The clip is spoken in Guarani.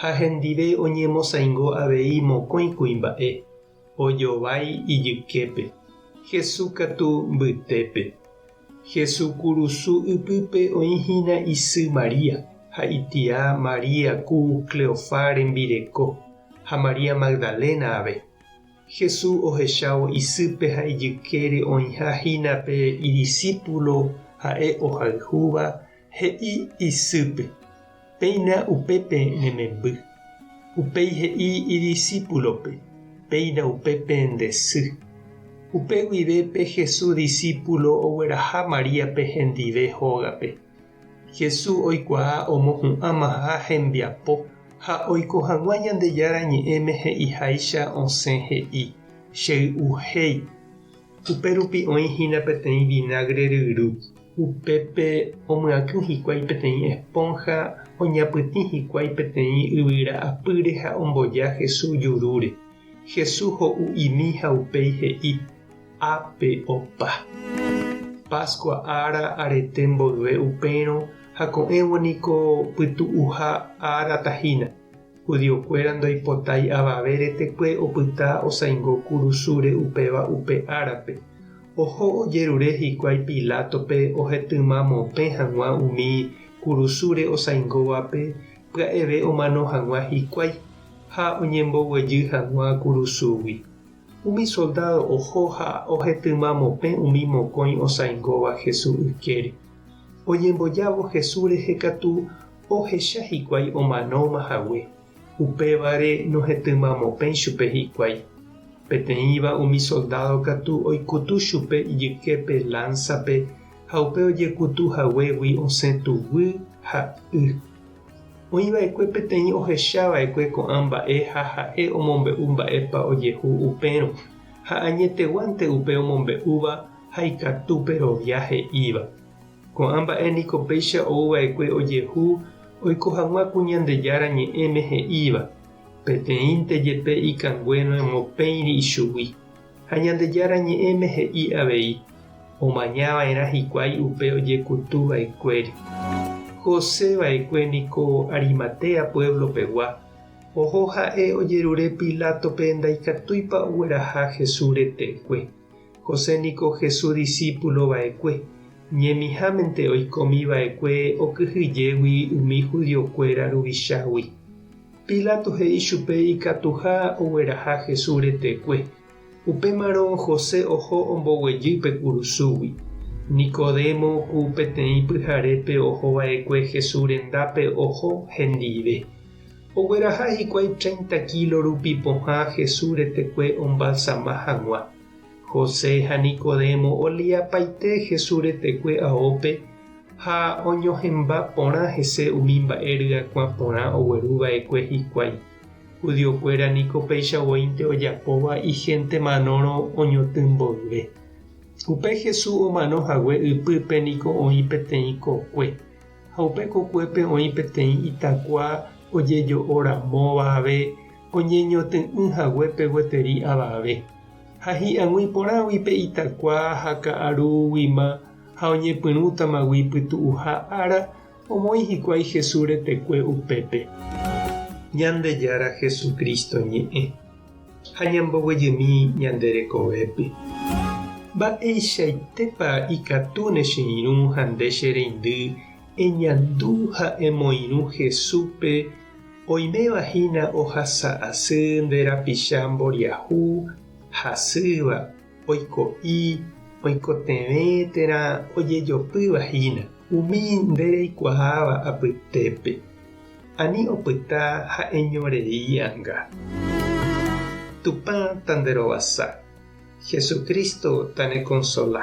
ha hendive oñemosaingo avei mokõi kuimba'e, ojovái ijyképe, Jesús katu mbytépe. Jesús kurusu ypýpe oĩ hína isy María ha itia María ku Cleofá rembireko, ha María Magdalena ave. Jesús ohechávo isýpe ha ijykére oĩha hína pe idisípulo ha'e ohayhúva, he'i isýpe. Péina upépe ne memby. Upéi he'i idisípulope, Péina upépe nde sy. Upe guive pe Jesús disípulo ogueraha Maríape hendive hógape. Jesús oikuaa omohu'ãmaha hembiapo ha oiko hag̃ua Ñandejára Ñe'ẽme he'iháicha osẽ he'i, Chey'uhéi. Upérupi oĩ hína peteĩ vinagre ryru. Upépe omyakỹ hikuái peteĩ espónha oñapytĩ hikuái peteĩ yvyra apýre ha omboja Hesu jurúre. Hesu ho'u imi ha upéi he'i, Ápe opa. Páskua ára arete mboyve upérõ ha ko'ẽvo niko pytu'uha ára tahína. Judiokuéra ndoipotái avave retekue opyta osãingo kurusúre upéva upe árape. Oho ojerure hikuái Pilátope ohetyma mopẽ hag̃ua umi kurusúre osãingóvape pya'eve omano hag̃ua hikuái, ha oñemboguejy hag̃ua kurusúgui. Umi soldádo oho ha ohetyma mopẽ umi mokõi osãingóva Hesu ykére. Oñembojávo Hesu rehe katu, ohecha hikuái omanóma hague, upévare nohetymamopẽ chupe hikuái. Peteĩva umi soldádo katu oikutu chupe ijyképe lánsape ha upe ojekutu haguégui osẽ tuguy ha y. Oĩva'ekue peteĩ ohechava'ekue ko'ã mba'e ha ha'e omombe'u mba'épa ojehu upérõ, ha añeteguánte upe omombe'úva ha ikatúpe rovia he'íva. Ko'ã mba'e niko péicha ou va'ekue ojehu oiko hag̃ua ku Ñandejára Ñe'ẽme he'íva, Peteĩnte jepe ikangue noemo péiri ichugui. Ha Ñandejára Ñe'ẽme he'i avei, Omaña va'erã hikuái upe ojekutu va'ekuéri. José va'ekue niko Arimatea puévlo pegua, oho ha'e ojerure Pilátope ndaikatúipa ogueraha Jesús retekue. José niko Jesús disípulo va'ekue. Ñemihámente oikomi va'ekue okyhyjégui umi judiokuéra ruvichágui. Pilato he'i chupe ikatuha ogueraha Jesús retekue. Upémarõ José oho omboguejy pe kurusúgui. Nicodemo ku peteĩ pyharépe oho va'ekue Jesús rendápe oho hendive. Ogueraha hikuái treinta kílo rupi pohã Jesús retekue ombalsama hag̃ua. José ha Nicodemo oliapaite Jesús retekue aópe ha oñohẽmba porã hese umi mba'e ryakuã porã ogueru va'ekue hikuái. Judiokuéra niko péicha voínte ojapóva ihénte manórõ oñotỹ mboyve. Upe Jesús omano hague ypýpe niko oĩ peteĩ kokue. Ha upe kokuépe oĩ peteĩ itakua ojejo'o ramóva ave oñeñotỹ'ỹ haguépe gueteri avave. Ha hi'ag̃ui porãgui pe itakua ha ka'arúguima ha oñepyrũtamagui pytu'uha ára, omoĩ hikuái Jesús retekue upépe. Ñandejára Jesucristo ñe'ẽ. ha ñamboguejemi ñande rekovépe. Mba'eichaitépa ikatu ne che irũ ha nde che reindy eñandu ha emoirũ Jesúspe oiméva hína ohasa asy nde rapicha mboriahu hasýva, oiko'i oikotevẽ térã ojejopýva hína. Umi nde reikuaáva apytépe, ani opyta ha'eño rei anga. Tupã ta nderovasa, Jesucristo ta nekonsola.